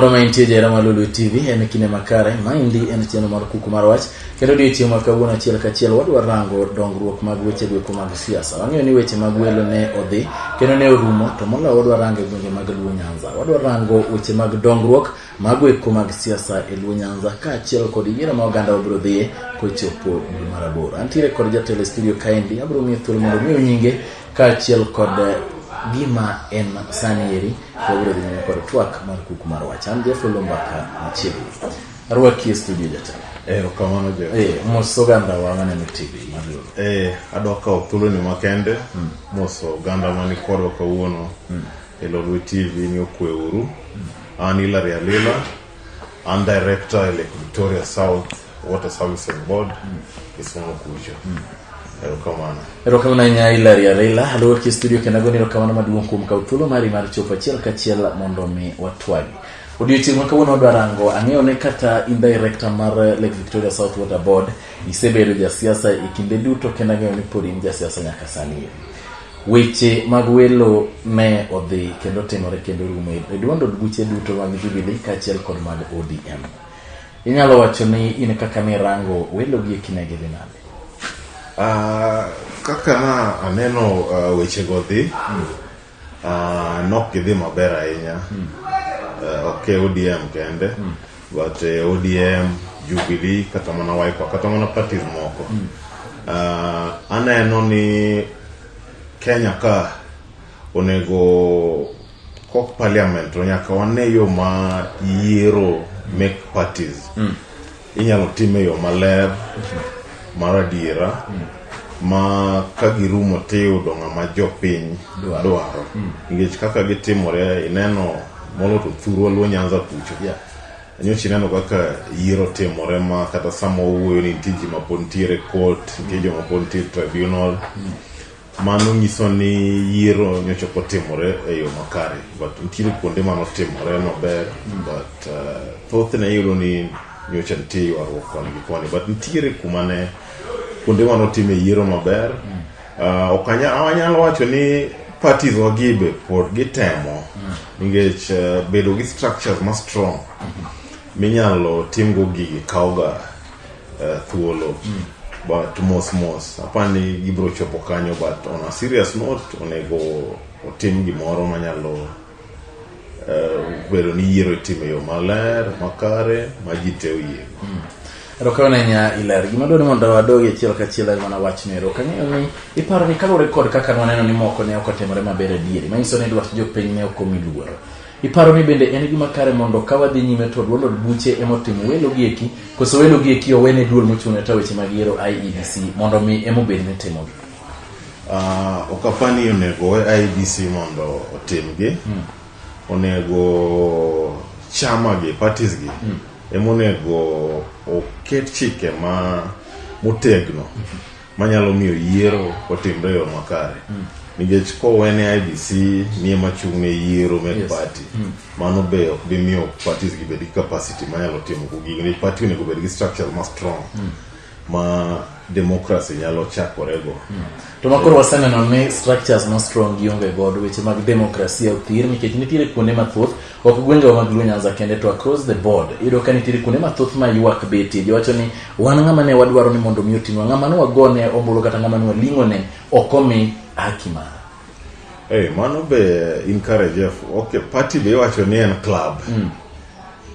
moro ma intie jera ma Lulu TV en kinde makare. Maendi en chenro mar kuku mar wach kendo odiechieng' ma kawuono achiel kachiel wadwa rango dongruok mag weche gweko mag siasa. Wang'eyo ni weche mag welo ne odhi kendo ne orumo to moloyo wadwa rango e gwenge mag Luo Nyanza. Wadwa rango weche mag dongruok Mago eko mag siasa e Luo Nyanza kaachiel kod yiero ma oganda wabiro dhiye kochopo dwe mar aboro. Antiere kod jatelo e studio kaendi, abiro miyo thuolo mondo omiu nyinge kaachiel kod eh, gima en sani eri wabiro dhi nyime kod twak mar kuku mar wach. An Jeff Olombaka machiegni. Arwaki e studio jatelo. Eh, okamano jo. Eh, mos oganda wa maneno TV mar Luo. Eh, adwa kawo thuoloni makende moso oganda mani kodwa kawuono e Lolwe TV ni okwe uru. An Hilary Alila, I'm director at Lake Victoria South Water Services Board, Kisumu Kucho. Erokamano. erokamano ahinya hilary arila aluor ki studio kendo agoni erokamano maduong' kuom kaw thuolo mari mar chopo achiel kachiel mondo mi watwagi odiochieng' ma kawuono wadwa rango ang'eyo ne kata in director mar lake victoria south water board isebedo jasiasa e kinde duto kendo ang'eyo ni pod in jasiasa nyaka sani Weche mag welo ne odhi kendo timore kendo rumo e duond od buche duto mag Jubilee kaachiel kod mag ODM. Inyalo wacho ni in kaka ni rango welo gi ekine gi dhi nade? Uh, kaka na aneno uh, weche go dhi mm. uh, nok gidhi maber ahinya mm. uh, ok e ODM kende mm. but eh, odm jubilee kata mana wiper kata mana parties moko Ah, aneno ni kenya ka onego kok parliament to nyaka wane yo ma yiero make parties inyalo tim e yo maler mar adiera ma ka girumo tiyudo ng'ama jopiny dwaro nikech kaka gitimore ineno molo to thurwa luo nyanza kucho yeah. nyocha ineno kaka yiero timore ma kata sama owuoyo ni nitie ji ma pod nitiere court nitie joma pod nitiere tribunal mano nyiso ni yiero nyocha ok otimore e yo makare but nitiere kuonde mano timore maber but uh, thothne iyudo ni nyocha nitie ywaruok koni gi koni but nitiere kuma ne kuonde mano time yiero maber Uh, ok anya- anyal wacho ni parties wagibe pod gitemo nikech uh, bedo gi structures ma strong minyalo timgo gigi kawoga uh, thuolo but mos mos apani gibiro chopo kanyo but on a serious note onego otim gimoro manyalo eh, bedo ni yiero itimo e yo maler makare ma ji te oyie hmm. erokamano nya iler gima dwani mondo wadogi achiel kachiel en mana wachno ero kang'eyo ni iparo ni kaluwore kod kaka nwaneno ni moko ne ok otimore maber adieri manyiso ni dwach jopiny ne ok omi luoro iparo ni bende en gima kare mondo ka wadhi nyime to duond od buche emotimo welo gi eki koso welo gi eki owene duol mochung'ne ta weche mag yiero iebc mondo mi emobed ni timogi Ah, ok apar ni onego we IBC mondo otimgi. Onego chama gi, parties gi, ema onego oket chike ma motegno manyalo miyo yiero otimre e yo makare. Nikech kowe ne IBC ni ema chung' ne yiero mek Yes. party, mano be ok bi miyo parties gi bed gi capacity manyalo timo gigi. Nikech party onego bed gi structure ma strong. ma democracy nyalo chakorego. Hmm. To makoro waseneno ni structures ma strong gionge godo weche mag demokrasia othir nikech nitiere kuonde mathoth ok gwengewa mag Luo Nyanza kende to across the board iyudo ka nitiere kuonde mathoth ma ywak betie giwacho ni wan ng'ama ne wadwaro ni mondo mi otinwa ng'ama ne wagone ombulu kata ng'ama ne waling'one ok omi haki mare. Hey, mano be encourage F. Okay, party be iwacho ni en club. Mm.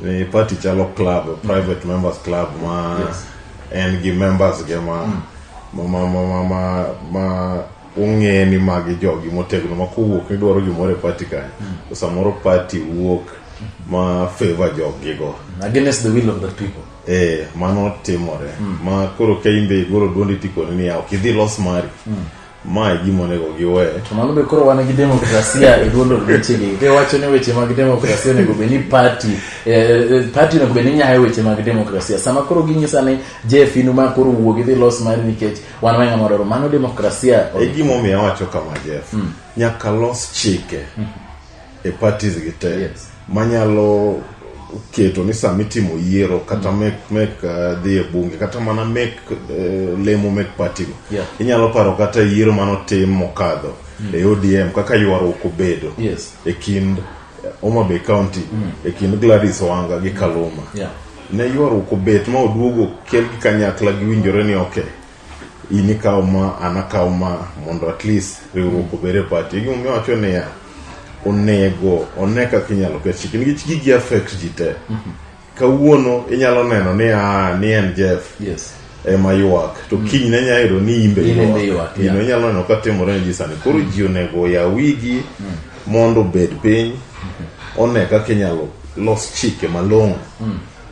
Ni party chalo club, mm. private mm. members club ma yes. en gi members ge ma mm. ma ma ma ma, ma, ma ung'e ni magi jogi motegno ma kowuok ni dwaro gimoro e party kanyo. Mm. Samoro party wuok ma favor jogi go. Mm. Against the will of the people. Eh, mano timore. Mm. Ma koro ka imbe igolo duondi tikoni ni ya, ok idhi los mari. Mm. ma e gima onego giwe to mano be koro wan gi demokrasia e duond od wechegi be wacho ni weche mag demokrasia onego bed ni party eh, eh, party onego bed ni nyayo weche mag demokrasia sama koro ginyisa ni jeff inu ma koro wuog idhi los mari nikech wan wang'a mororo mano demokrasia e gimomiyo awacho kama jeff nyaka los chike e parties gi te Yes. manyalo keto ni sama itimo yiero kata mek mek uh, dhi e bunge kata mana mek uh, lemo mek party go Yeah. inyalo paro kata yiero manotim mokadho e odm kaka ywaruok obedo Yes. e kind eh, Homa Bay County e kind Gladys Wanga gi Kaluma Yeah. ne ywaruok obet ma oduogo kel gi kanyakla giwinjore ni ok in ikaw ma an akaw ma mondo at least riwruok obed e party gimomiyo wacho niya onego one kaka inyalo ket chike nikech gigi affect ji te kawuono inyalo neno ni ah, ni en jeff yes ema ywak to kiny ne nyalo yudo ni imbe In embe ywak, yeah. ino inyalo neno ka timore ne ji sani koro ji onego oyaw wigi mondo obed piny one kaka inyalo los chike malong'o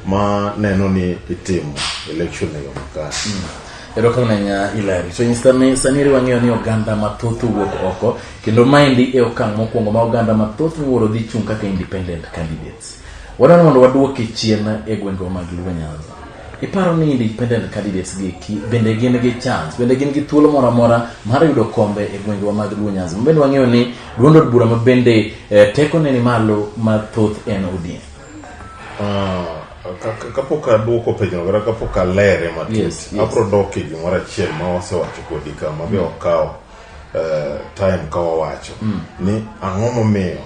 ma neno ni itimo election e yo makare erokamano ahinya ilari so nyisa ni sani eri wang'eyo ni oganda mathoth owuok oko kendo maendi e okang' mokwongo ma oganda mathoth miwuoro dhi chung' kaka independent candidates wadwaro mondo wadwoki chien e gwengewa mag luo nyanza iparo ni independent candidates gi eki bende gin gi chance bende gin gi thuolo moro amora mar yudo kombe e gwengewa mag luo nyanza mabende wang'eyo ni duond od bura ma bende eh, tekone ni malo mathoth en odm Ah, ka- ka- kapok aduoko penjo kata kapok alere matut Yes, yes. abro dok e gimoro achiel ma wasewacho kodi ka ma be okawo eh, time ka wawacho ni ang'o momiyo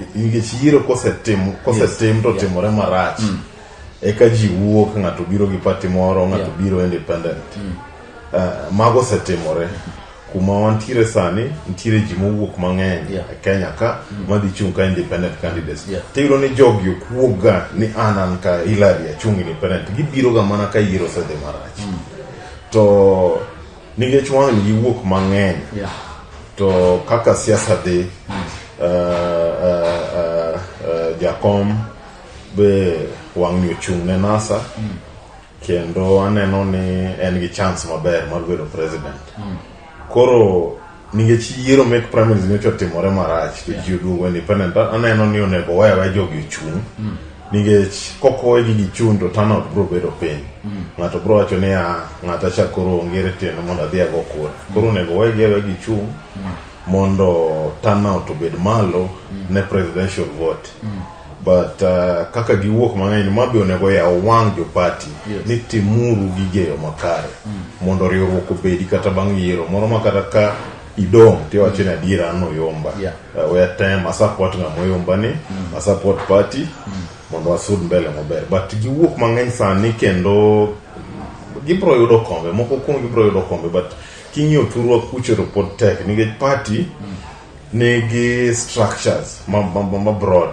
i- nikech yiero kosetim kosetim to Yeah. timore marach eka ji wuok ng'ato biro gi pati moro ng'ato Yeah. biro independent Eh, mago osetimore kuma wantiere sani nitiere ji mowuok mang'eny yeah. e kenya ka mm. madhi chung' ka independent candidates yeah. tiyudo ni jogi okuokga ni an an ka hilary achung' independent gibiroga mana ka yiero osedhi marach mm. to nikech wang'ni giwuok mang'eny yeah. to kaka siasa dhi mm. uh, uh, uh, uh, jakom be wang'ni ochung' ne nasa mm. kendo aneno ni en gi chance maber mar bedo president mm. koro nikech yiero mek primaries nyocha otimore marach to ji oduogo independent aneno ni onego waye waye jogi ochung' mm. nikech kokowe gi gichung' to turnout bro bedo piny mm. ng'ato bro wacho ni a ah, ng'ata cha koro ongere tiende mondo adhi ago kura mm. koro onego waye gi awe gichung' mm. mondo turnout obed malo mm. ne presidential vote mm. but uh, kaka giwuok mang'eny ma be onego yaw wang' jo party yes. ni timuru gige yo makare mm. mondo riwruok obedi kata bang' yiero moro ma kata ka idong' tiwacho ni adiera an oyomba yeah. uh, we atem asupport ng'ama oyomba ni mm. asupport party mm. mondo wasud mbele maber but giwuok mang'eny sani kendo gibro yudo kombe moko kuom gibro yudo kombe but king'iyo thurwa kucho to pod tek nikech party mm. nigi structures ma, ma, ma, ma broad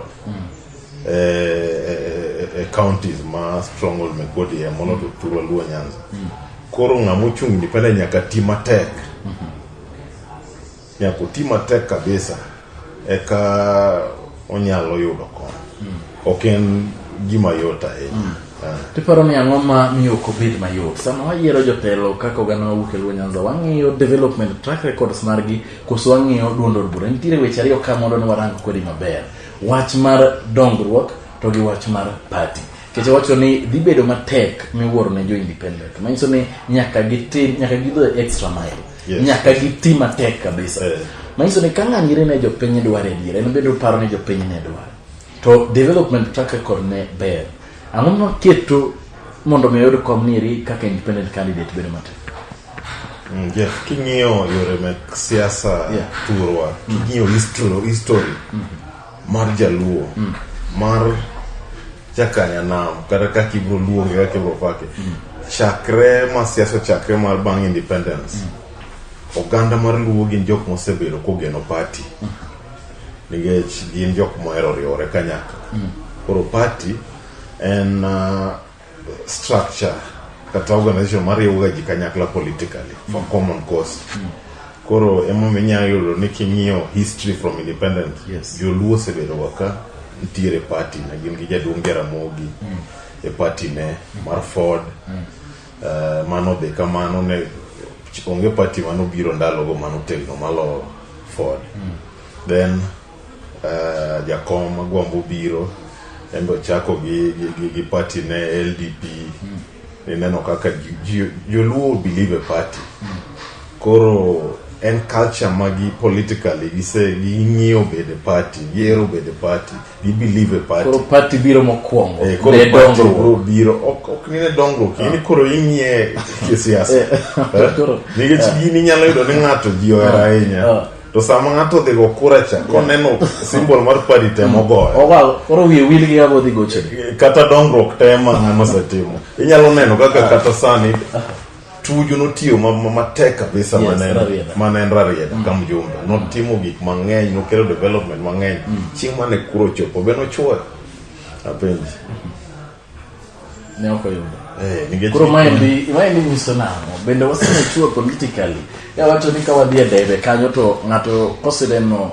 eh, eh, eh, counties ma stronghold me kodi e mono to turwa luo nyanza koro ng'ama ochung' independent nyaka ti matek nyaka oti matek kabisa eka onyalo yudo kony ok en gima yot ahinya Ah. tiparo ni ang'o ma miyo ok obed mayot sama wayiero jotelo kaka oganda mawuok e luo nyanza wang'iyo development track records margi Koso wang'iyo duond od bura. Nitiere weche ariyo ka mondo ne warang kodi maber. Wach mar dongruok to gi wach mar party. Kecha wacho ni dhi bedo matek miwuoro ne jo independent. Manyiso ni nyaka gitim nyaka gidho extra mile. Yes. Nyaka giti matek kabisa. Eh. Manyiso ni ka ng'ani ire ne jopiny dwaro adier, en bende oparo ni jopiny ne dwaro. To development track record ne ber. Ang'o maketo mondo mi oyud kom niri kaka independent candidate bedo matek? Mm, yeah. king'iyo yore mek siasa Yeah. turwa king'iyo history, history mar jaluo mar jakanyanam kata kaka ibro luonge kaka ibro pake chakre ma siasa chakre mar bang independence oganda mar luo gin jok mosebedo kogeno party nikech gin jok mohero riwore kanyakla koro party en uh, structure kata organization mariwoga ji kanyakla politically for common cause koro emomiyo inyalo yudo ni king'iyo history from independent Yes. joluo osebedoga ka nitiere party ne gin gi jaduong' jaramogi e party ne mar ford Eh, mano be kamano ne onge party manobiro ndalogo manotegno maloyo ford then uh, jakom agwambo biro en be ochako gi, gi, gi, gi party ne ldp mm. ineno kaka joluo believe a party mm. koro en culture ma gi politically gise ging'iyo bede party gihero bede party gi believe a party koro party biro mokwongo eh, koro party bro biro ok ok ni ne dongruok ah. ini koro ing'iye kisiasa eh, eh? nikech ah. gini nyalo yudo ni ng'ato ji ohero ah. ahinya ah. to sama ng'ato odhi go kura cha koneno simbol mar padi temo mm. goyo ogal koro wiye wil gi ng'ama odhi goche kata dongruok tema ng'ama osetimo inyalo neno kaka ah. kata sani tuju notiyo matek kabisa mane en rarieda mm. ka mjumbe mm. notimo gik mang'eny nokelo development mang'eny chieng' mane kuro chopo be nochuoyo apenji ne ok oyudo Eh, nikech- koro maendi maendi nyiso nang'o bende wasemechua politically ya wacho ni ka wadhi e debe kanyo to ng'ato koseneno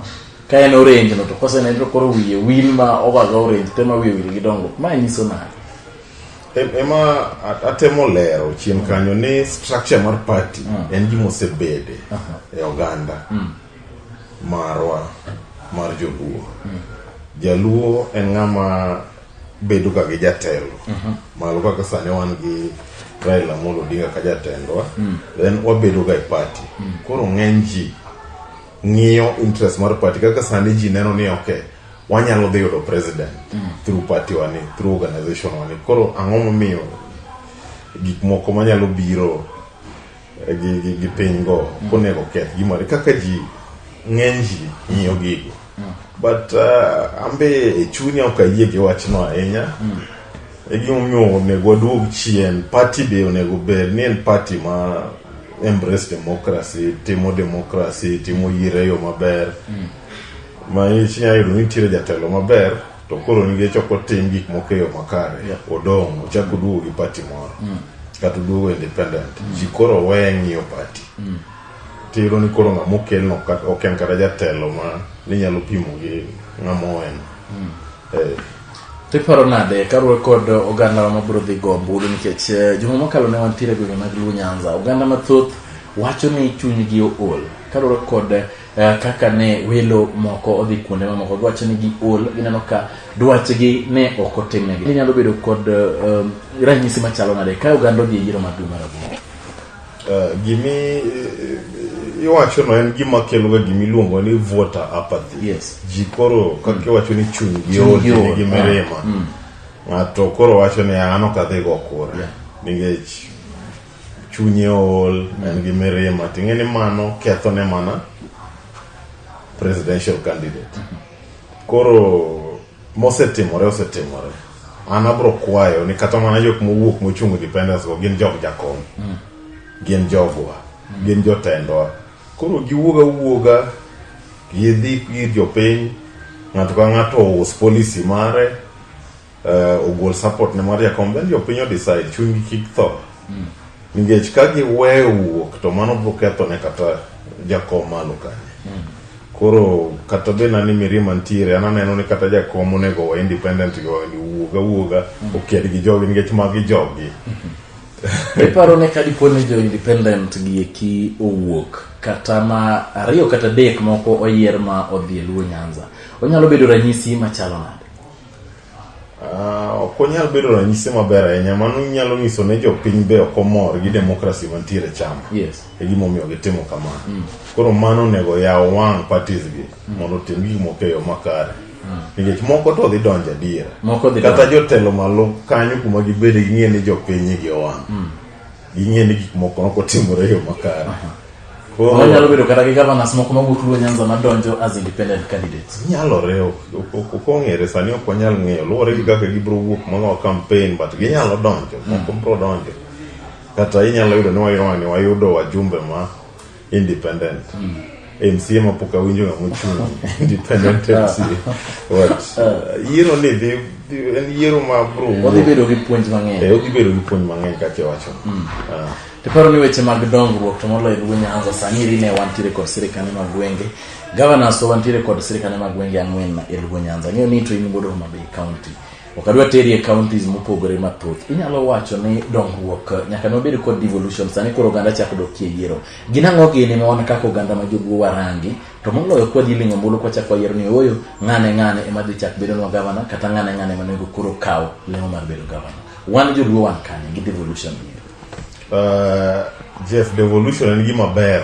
ka en orange no to koseneno to koro wiye win ma owaga orange te ma wiye wil gi dongruok mae nyiso nang'o Em- ema a- atemo lero chien kanyo ni structure mar party en gima osebede e oganda marwa mar joluo jaluo en ng'ama bedo ka gi jatelo mhm. malo kaka sani wan gi Raila Amolo Odinga ka jatendwa mm. then wabedo ga e party mm. koro ng'eny ji ng'iyo interest mar party kaka sani ji neno ni ok wanyalo dhi yudo president mm. through party wani through organization wani koro ang'o momiyo gik moko manyalo biro gi, gi, piny go mm. onego keth gimore kaka ji ng'eny ji ng'iyo gigo mm. but uh, ambe e chunya ok ayie gi wachno ahinya mm. e gimomiyo onego waduog chien party be onego ber ni en party ma embrace democracy timo democracy timo yiero e yo maber mm. ma inyalo yudo ni nitiere jatelo maber to koro nikech ok otim gik moko e yo makare Yeah. odong' ochako duogo gi pati moro kata oduogo independent ji koro weye ng'iyo pati tiyudo ni koro ng'ama okelno kat- ok en kata jatelo ma ninyalo pimo gi ng'ama oen Eh, tiparo nade karuwe kod oganda ma biro dhi go ombulu nikech eh, juma mokalo ne wantiere e gwenge mag luo nyanza oganda mathoth wacho ni chunygi ool karuwe kod eh, Eh, kaka ne welo moko odhi kuonde mamoko dwache ni gi ol gineno ka dwachgi ne ok otimnegi inyalo bedo kod um, ranyisi machalo nade ka oganda odhi e yiero mar dwe mar aboro eh, gimi iwacho no en gima kelo ga gima iluongo ni voter apathy yes. ji koro kaka mm. iwacho ni chuny gi ol gi mirima ah, mm. ng'ato koro wacho ni an ok adhi go kura yeah. nikech chunye ool en gi mirima ting'e ni mano ketho ne mana presidential candidate koro mosetimore osetimore an abro kwayo ni kata mana jok mowuok mochung' independence go gin jog jakom gin jogwa gin jotendwa koro giwuoga wuoga gidhi ir jopiny ng'ato ka ng'ato ous policy mare uh, ogol support ne mar jakom then jopiny odecide chunygi kik tho mm. nikech ka giweyo wuok to mano biro ketho ne kata jakom malo kanyo mm. koro kata be nani mirima ntiere an aneno ni kata jakom onego wa independent go ni wuoga wuoga mm. oked gi jogi nikech magi jogi mm-hmm. iparo ne ka dipo ni jo independent gi eki owuok kata ma ariyo kata dek moko oyier ma odhi e luo nyanza onyalo bedo ranyisi machalo nade Ah, ok onyal bedo ranyisi maber ahinya mano nyalo nyiso ne jopiny be ok omor gi demokrasi mantiere chama yes e gimomiyo gitimo kamano mm. koro mano onego yaw wang' parties gi mm. mondo otim gik moko e yo makare mm. nikech moko to dhi donjo adiera kata jotelo malo kanyo kuma gibede ging'e ni jopiny gi owang' mm. ging'e ni gik moko nokotimore e yo makare onyalo bedo kata gi governors moko mawuok luo nyanza madonjo as independent candidates nyalore ok ong'ere sani ok wanyal ng'eyo luwore gi kaka gibiro wuok mono campaign but ginyalo donjo moko biro donjo kata inyalo yudo ni wayudo wayudo wajumbe ma independent mca ma pok awinjo ng'ama ochung' independent mca but uh, yiero ni dhi dhi- en yiero ma bro wadhi bedo gi puonj Eh, mang'eny odhi bedo gi puonj mang'eny kaka iwacho Ah. tiparo ni weche mag dongruok to moloyo luo nyanza sani eri ne wantiere kod sirikane mag gwenge governors to wantiere kod sirikane mag gwenge ang'wen e luo nyanza ang'eyo ni to in wuod homabay county Ok adwa teri e counties mopogore mathoth. Inyalo wacho ni dongruok eh, nyaka ne wabed kod devolution sani koro oganda chako dok e yiero. Gin ang'o gini ma wan kaka oganda ma joluo warangi to moloyo kwa dhi ling'o mbulu kwa chako wayiero ni ooyo ng'ane ng'ane ema dhi chak bedonwa gavana kata ng'ane ng'ane ema onego koro kaw lemo mar bedo gavana. Wan joluo wan kanye gi devolution ni? Uh, Jeff, devolution en gima ber.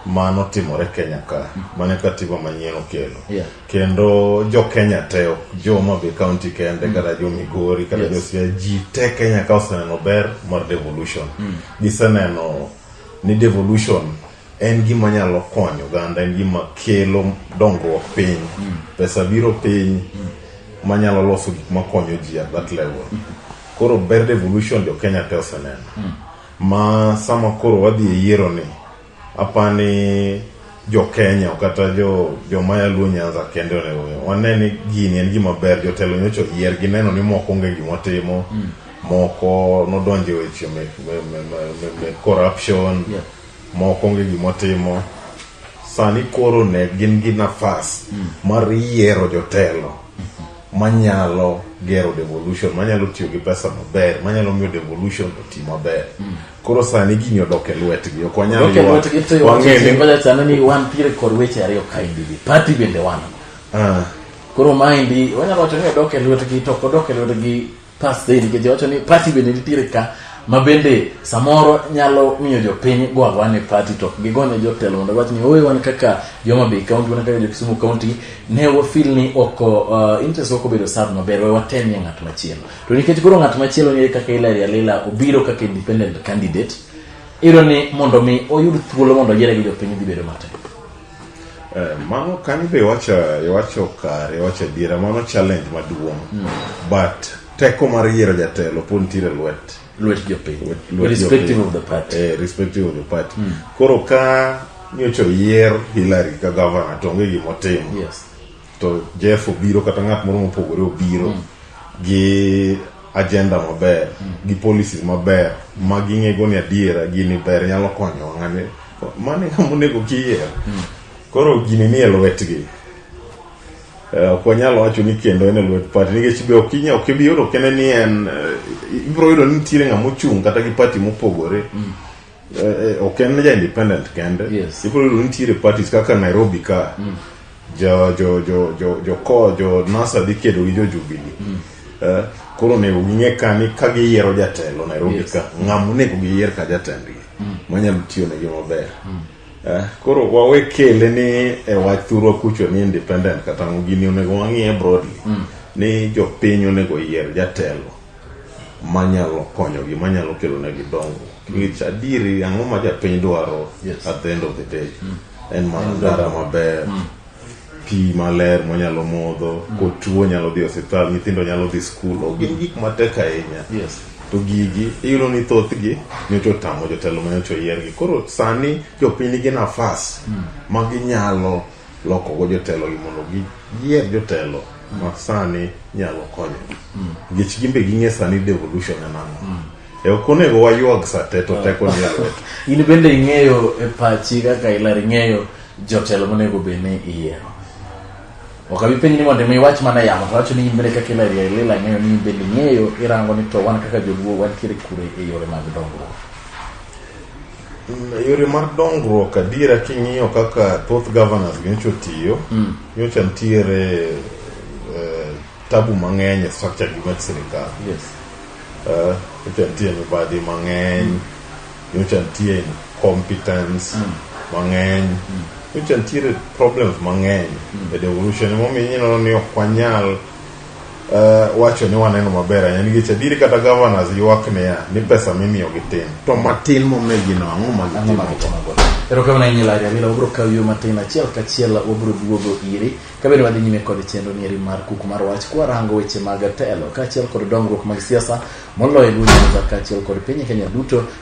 ma notimore Kenya ka mane katiba manyien okelo Yeah. kendo jo Kenya te ok jo ma be county kende kata jo Migori kata jo Siaya ji te Kenya ka oseneno ber mar devolution giseneno ni devolution en gima nyalo konyo oganda en gima kelo dongruok piny pesa biro piny manyalo loso gik makonyo ji at that level koro ber devolution jo Kenya te oseneno Ma sama koro wadhi e yiero ni, apa ni jo Kenya kata jo jo maya luo Nyanza kende onego ong'e. wane ni gini en gima ber jotelo nyocha oyier gineno ni moko onge gima timo moko nodonje weche me, me, me, me, me, me corruption Yeah. moko onge gima timo sani koro ne gin gi nafas mar yiero jotelo manyalo gero devolution manyalo tiyo gi pesa maber manyalo miyo devolution oti maber mm. koro sani gini odok e lwetgi ok wanyal wang'eni ni wan tiere kod weche ariyo kaendi gi party bende wan ah. koro maendi wanyalo wacho ni odok e lwetgi to ok odok e lwetgi Pastor David Geja wacho ni party bende nitiere ka ma bende samoro nyalo miyo jopiny go agoa ne party to ok gigone jotelo mondo giwach ni owe wan kaka joma Bay County wan kaka jo-Kisumu County ne wafeel ni ok uh, interest ok obedo served maber we watemie ng'at machielo to nikech koro ng'at machielo ni kaka Hillary Alila obiro kaka independent candidate iyudo ni mondo mi oyud thuolo mondo oyiere gi jopiny dhi bedo matek Eh, mano kanyo be iwacho iwacho kare iwacho adiera mano challenge maduong' hmm. but teko mar yiero jatelo pod nitiere lwet lwet jopiny irrespective of the party eh, irrespective of the party hmm. koro ka nyocha oyier Hillary ka governor to onge gimotimo yes to Jeff obiro kata ng'at moro mopogore obiro mm. gi agenda maber mm. gi policies maber ma ging'ego ni adiera gini ber nyalo konyo ng'ani mano e ng'ama onego kiyier mm. koro gini ni e lwetgi eh, ok wanyal wacho ni kendo en e lwet pati nikech be ok inya ok ibi yudo kene ni en eh, ibiro yudo ni nitiere ng'ama ochung' kata gi pati mopogore Eh, eh, ok en ja independent kende yes. ibiro yudo nitiere parties kaka nairobi ka mm. jo jo jo jo jo ko jo nasa dhi kedo gi jo jubili mm. eh, koro onego ging'e ka ni ka giyiero jatelo nairobi yes. ka ng'ama onego giyier ka jatendgi mm. manyalo tiyo negi maber mm. eh, koro wawe kele ni e wach thurwa kucho ni independent kata gini onego wang'iye broadly mm. ni jopiny onego yier jatelo manyalo konyogi manyalo kelonegi dongruok nikech adieri ang'o ma japiny dwaro Yes. at the end of the day en mana ndara maber pi maler monyalo modho kotuo nyalo dhi e osiptal nyithindo nyalo dhi skul ok gin gik matek ahinya Yes. to gigi iyudo ni thothgi nyocha otamo jotelo ma nyocha oyiergi koro sani jopiny nigi nafas ma ginyalo lokogo jotelogi mondo giyier jotelo ma sani nyalo konyo nikech gin be ging'e sani devolution en ang'o e ok onego waywag sa te to teko ni e lwet in bende ing'eyo e pachi kaka ilar ing'eyo jotelo monego bed ni iyiero ok abi penji ni mondo mi iwach mana yamo to wacho ni in bende kaka ilar ilila ng'eyo ni in bende ing'eyo irango ni to wan kaka joluo wantiere kure e yore mag dongruok Mm, e yore mar dongruok adiera king'iyo kaka thoth governors nyocha otiyo mm. nyocha nitiere eh, tabu mang'eny e structure gi mag sirikal yes. uh, nyocha nitie mibadhi mang'eny mm. nyocha nitie incompetence mm. mang'eny mm. nyocha nitiere problems mang'eny mm. e devolution momiyo ineno ni ok wanyal uh, wacho ni waneno maber ahinya nikech adieri kata governors ywak niya ni pesa mimiyogi tin to matin momegino ang'o magitimogo erokamano ahinya lari amila wabiro kawo yo matin achiel kachiel wabiro duogo iri kabende wadhi nyime kod chenro nieri mar kuku mar wach kwarango weche mag telo kaachiel kod dongruok mag siasa moloyo e gwenge kaachiel kod piny kenya duto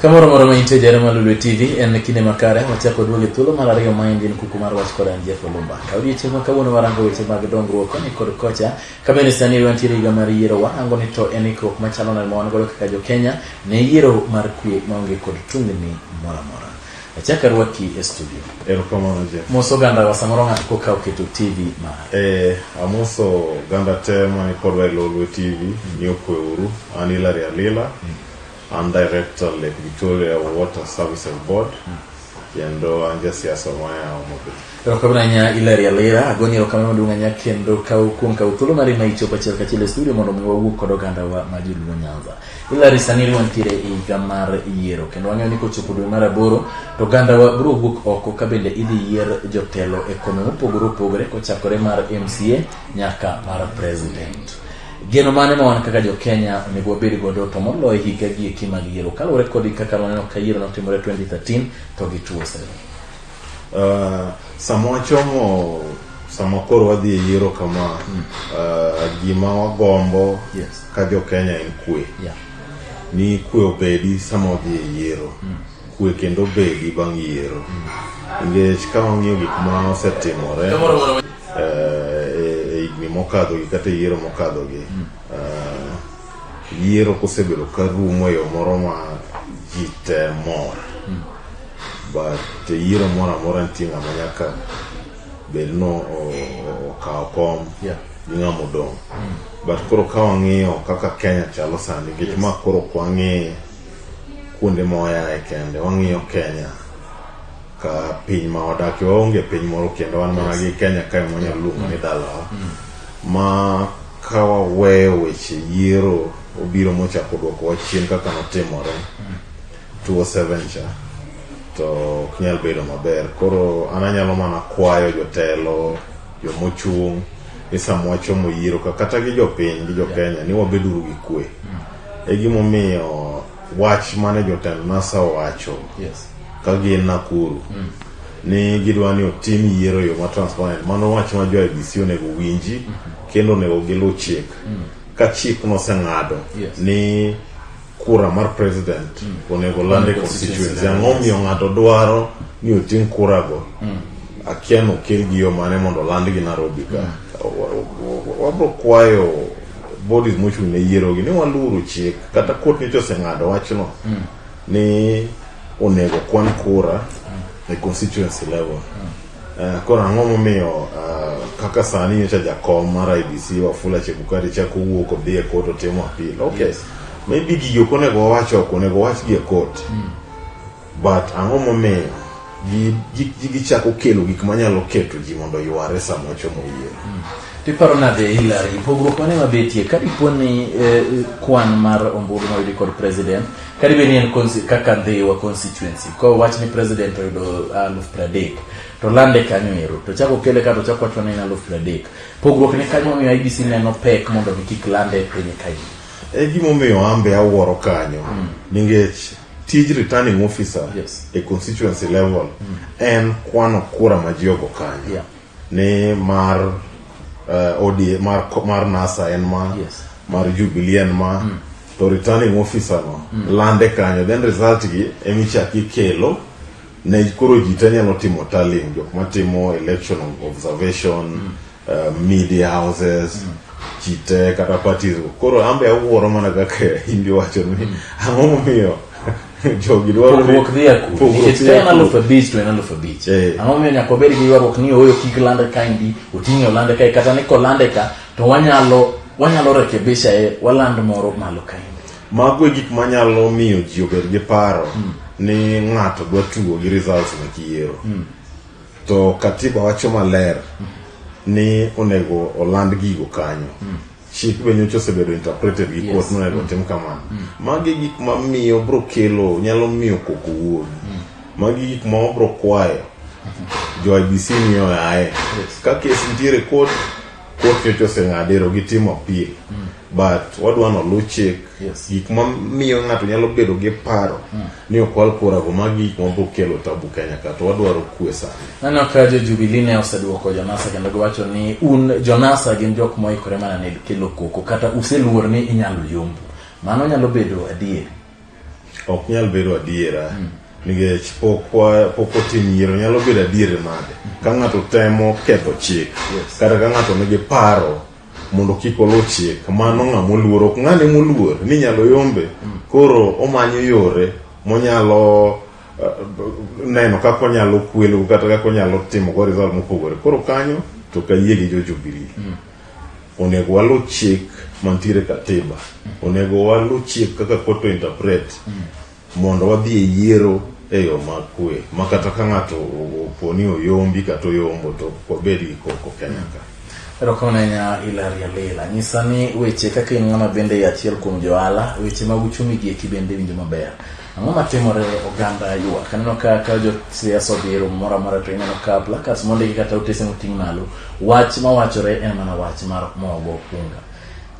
Kamoro moro ma intie jare malulwe TV en kinde makare wachako duoge thuolo mar ariyo ma en din kuku mar wach kod an Jeff Olumba. Ka odiechieng' ma kawuono warango weche mag dongruok koni kod kocha ka bende sani wantiere higa mar yiero warango ni to en ikruok machalo nade ma wan godo kaka jo Kenya ne yiero mar kwe maonge kod tungni moro amora. Achaka rwaki e studio. Erokamano Jeff. Moso oganda wa samoro ng'ato koka oketo TV mare. Eh, amoso oganda te mani kodwa e Lolwe TV ni okwe uru. An Hilary Alila. An director Lake Victoria Water Services Board kendo an jasiasa maya Homa Bay. Erokamano ahinya Hilary Alira, agoni erokamano maduong' ahinya kendo kaw kuom kaw thuolo mari ma ichopo achiel kachiel e studio mondo mi wawuo kod oganda wa ma joluo Nyanza. Hilary sani ri wantiere e higa mar yiero kendo wang'eyo ni kochopo dwe mar aboro to oganda wa biro wuok oko ka bende idhi yier jotelo e kome mopogore opogore kochakore mar MCA nyaka mar president. Geno mane ma wan kaka jo Kenya onego wabed godo to moloyo higa gi eki mag yiero kaluwore kod kaka waneno ka yiero notimore 2013 to gi tuo sani. Uh, sama wachomo sama koro wadhi e yiero kama mm. uh, gima wagombo yes. ka jo Kenya en kwe yeah. ni kwe obedi sama wadhi e yiero mm. kwe kendo obedi bang' yiero mm. nikech mm. ka wang'iyo gik ma osetimore eh, e higni mokadhogi kata e yiero mokadhogi hmm. eh, yiero kosebedo ka rumo e yo moro ma ji te mor hmm. but e yiero moro amora nitie ng'ama nyaka bed ni okawo kom gi ng'ama odong' hmm. but koro ka wang'iyo kaka kenya chalo sani nikech ma koro kwang'e kuonde moyae kende wang'iyo kenya ka piny ma wadakie waonge piny moro kendo wan mana gi kenya kae mwanyalo luongo ni dalawa ma ka waweyo weche yiero obiro mochako dwoko wa chien kaka notimore 207 cha to ok nyal bedo maber koro an anyalo mana kwayo jotelo jomochung' ni sama wachomo yiero ka kata gi jopiny gi jokenya ni wabeduru gi kwe e gimomiyo wach mane jotend NASA owacho yes. ka gin Nakuru mm. ni gidwa ni otim yiero yo ma transparent mano wach ma jo IBC onego winji mm -hmm. kendo onego giluw chik mm. ka chik noseng'ado yes. ni kura mar president mm. onego land e constituency ang'o omiyo ng'ato dwaro ni oting kurago mm. akia nokel gi yo mane mondo land gi Nairobi ka mm. wabro kwayo bodies mochung' ne yierogi ni waluru chik kata kot nyocha oseng'ado wachno ni onego kwan kura e constituency level Eh, koro ang'o momiyo ah, kaka sani nyocha jakom mar idc wafula chebukati chako wuok odhi e kot otimo apil okay maybe gigi ok onego wawach oko onego wawachgi e kot But ang'o momiyo gi- gi- gi- gichako kelo gik manyalo keto ji mondo yware sama ochomo yiero? Tiparo nade Hillary, pogruok mane mabetie ka dipo ni eh, kwan mar ombulu moyudi kod president ka dibe ni en consi- kaka Ndhiwa constituency ka wach ni president oyudo aluf pradek to lande kanyo ero to chako kele ka to chako wacho ni en aluf pradek pogruok ni kanyo momiyo IBC neno pek mondo mi kik lande e piny kae E gimomiyo ambe awuoro kanyo ningech tij returning officer Yes. e constituency level en kwano kura ma ji ogo kanyo Yeah. ni mar uh, ODA, mar, ko- mar nasa en ma Yes. mar jubilee en ma to returning officer no lande kanyo then result gi emichak ikelo ne koro ji te nyalo timo tallying jok matimo election observation uh, media houses mm. chite kata parties koro ambe awuoro mana kaka hindi wacho ni mm. ang'o momiyo jogi dwaro ni pogruok dhi aku Pogruok nikech dhi ka en aku. aluf abich to en aluf abich Eh. ang'o momiyo nyaka wabed gi ywaruok ni ooyo kik lande ka ndi oting'e olande kae kata ni kolande ka to wanyalo wanyalo rekebisha e waland moro malo ka ndi mago e gik manyalo miyo ji obed gi paro ni ng'ato dwa tugo gi results mek yiero to katiba wacho maler ni onego oland gigo kanyo chik be nyocha osebedo interpreted gi court Yes. ni onego otim kamano magi gik ma miyo bro kelo nyalo miyo koko wuogi magi gik ma wabro kwayo jo IBC miyo aye ka kes nitiere court court nyocha oseng'adero gitimo appeal but wadwa ni oluw chik Yes. gik ma miyo ng'ato nyalo bedo gi paro ni ok wal kurago ma gik ma bokelo tabu kenya ka to wadwaro kwe sana Naneno ka jo Jubilee ne oseduoko Jonasa kendo giwacho ni un Jonasa gin jok moikore mana ne kelo koko kata useluor ni inyalo yombu. Mano nyalo bedo adier. ok nyal bedo adiera nikech pok wa- pok otim yiero nyalo bedo adier nade ka ng'ato temo ketho chik Yes. kata ka ng'ato nigi paro mondo kik oluw chik mano ng'a moluor ok ng'ane moluor ni nyalo yombe koro omanyo yore monyalo eh, neno kaka onyalo kwelo kata kaka onyalo timo go result mopogore koro kanyo to kayie gi jo Jubilee onego waluw chik mantiere katiba onego waluw chik kaka court to interpret Mondo wadhi e yiero e yo ma kwe ma kata ka ng'ato opo ni oyombi kata oyombo to wabed gi koko Kenya ka. Erokonenya Ilaria Lela, nyisa ni weche kaka in ng'ama bende e achiel kuom johala, weche mag uchumi gi eki bende winjo maber. Ang'o matimore oganda ywa? Kaneno ka ka jo siasa odhi e romo moro amora to ineno ka placards mondiki kata otese moting' malo, wach mawachore en mana wach mar mogo unga.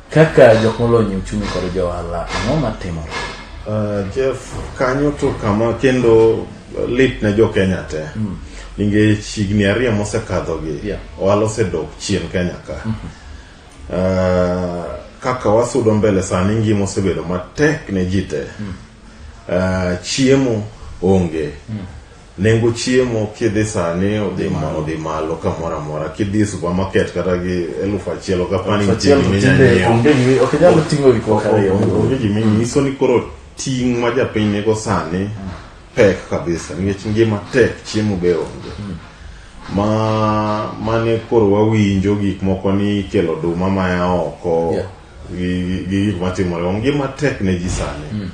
Kaka jok molony e uchumi kod jo ohala, ang'o matimore? Uh, Jeff, kanyo to kama kendo lit ne jo Kenya te. Mm. Nikech higni ariyo mosekadhogi, yeah. ohala osedok chien Kenya ka. Mm -hmm. uh, kaka wasudo mbele sani ngima osebedo matek ne ji te. Mm. Uh, chiemo onge. Mm. Nengo chiemo kidhi sani odhi ma odhi malo kamoro amora kidhi e supermarket kata gi elufu achiel ok apani Achiel to tinde onge gi ok inyal ting'o gik moko ariyo. onge gima inyiso ni koro ting' ma japiny nigo sani pek kabisa nikech ngima tek chiemo be onge ma mane koro wawinjo gik moko ni ikelo oduma maya oko Yeah. gi gi gik matimore ngima tek ne ji sani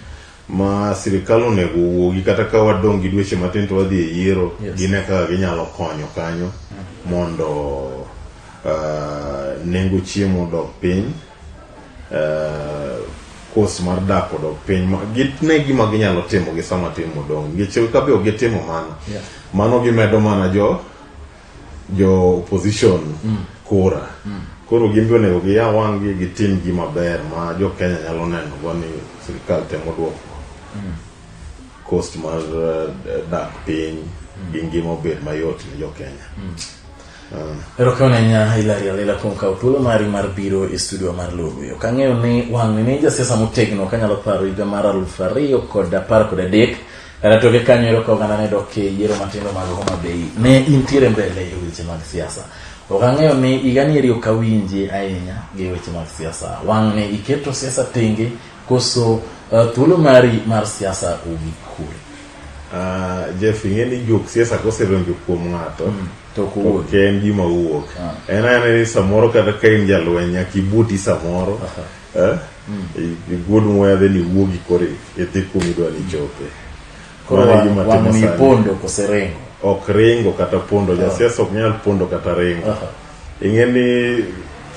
ma sirikal onego owuogi kata ka wadong' gi dweche matin to wadhi e yiero yes. gine kaka ginyalo konyo kanyo mm. mondo uh, nengo chiemo odog piny uh, kos mar dak odog piny gitne gima ginyalo timo gi sama timo dong' nikech kabe ok gitimo mano yeah. mano gimedo mana jo jo opposition kura koro gin be onego giya wang'gi gitim gima ber ma jo Kenya nyalo neno go ni sirikal temo duoko cost mar eh, dak piny gi ngima obed mayot ne jo Kenya Ah. Erokamano ahinya Hilary Alela kuom kawo thuolo mari mar biro e studio mar Lolwe. Ok ang'eyo ni wang'ni ni jasiasa motegno kanyalo paro higa mar aluf ariyo kod apar kod adek Kata toke kanyo ero ka oganda ne dok e yiero matindo mag Homa Bay, ne intiere mbele e weche mag siasa. Ok ang'eyo ni higani eri ok awinji ahinya gi weche mag siasa. Wang' ne iketo siasa tenge koso uh, thuolo mari mar siasa ogik kure? Uh, Jeff, ing'e ni jok siasa kosedonjo kuom ng'ato mm, to ok en gima wuok. Ah. En anene ni samoro kata ka in jalweny nyaka ibuti samoro. Uh -huh. Eh? I- Igol muya then iwuogi koro i- idhi kuma idwa ni ichope. Koro Mano e wang- gima timo wang'ni sani. pondo kose rengo. ok ringo kata pondo jasiasa ok nyal pondo kata ringo Aha. ing'e ni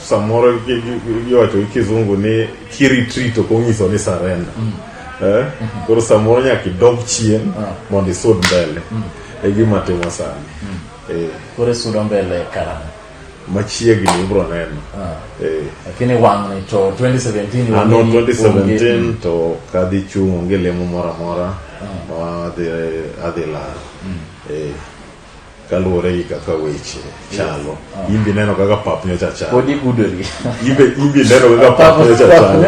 samoro gi- gi- gi- iwacho gi kizungu ni kiritrit ok onyiso ni sarenda Eh? koro samoro nyaka idog chien mondo isud mbele e gima timo sani Eh. Koro isudo mbele karang'o? machiegni ibro neno ah. eh. lakini wang'ni to 2017 ano ah, 2017 to kadhi chung' onge lemo moro amora ah. ma adhi laro mm. eh, kaluwore gi kaka weche chalo imbi neno kaka pap nyocha chalo imbi neno kaka pap nyocha chalo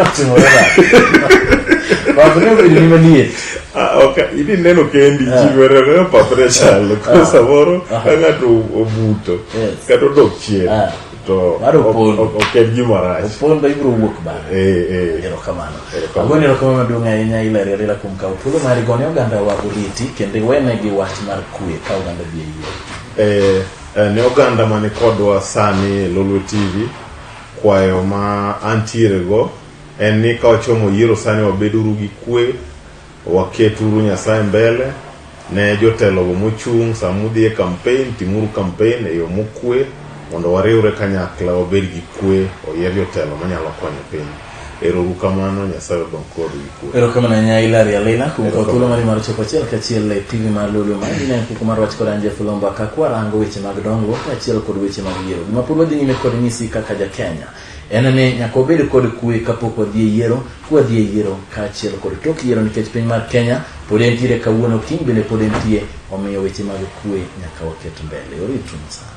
Ah, okay. Ili neno kendi Eh. chiwere ne papre chalo ko Eh. samoro Eh. ka ng'ato obuto Yes. kata odok chien Eh. to Mar opondo. ok- ok- ok en gima rach. opondo ibiro wuok bang'e Eh, eh. erokamano Erokamano. agoni erokamano maduong' ahinya ilari alila kuom kawo thuolo mari gone oganda wa oriti kendo iwenegi wach mar kwe ka oganda bi e yie Eh, eh, ne oganda mani kodwa sani e Lolwe TV kwayo ma antiere go En ni ka wachomo yiero sani wabeduru gi kwe, waketuru Nyasaye mbele, ne jotelogo mochung' sama udhi e kampen, timuru kampen e yo mokwe mondo wariwre kanyakla wabed gi kwe, oyier jotelo manyalo konyo piny. Ero uru kamano, Nyasaye odong kodu gi kwe. Erokamano ahinya Hilary Alila kuom kawo thuolo mari mar chopo achiel kachiel e TV mar Lolwe ma in en kuku mar wach kod an Jeff Lomba ka kwarango weche mag dongruok kaachiel kod weche mag yiero. Gima pod wadhi nyime kod nyisi kaka ja Kenya. En ni nyaka wabed kod kwe kapok wadhi e yiero, ka wadhi e yiero kaachiel kod tok yiero nikech piny mar Kenya pod entiere kawuono, kiny bende pod entie, omiyo weche mag kwe nyaka waket mbele. Oritu sana.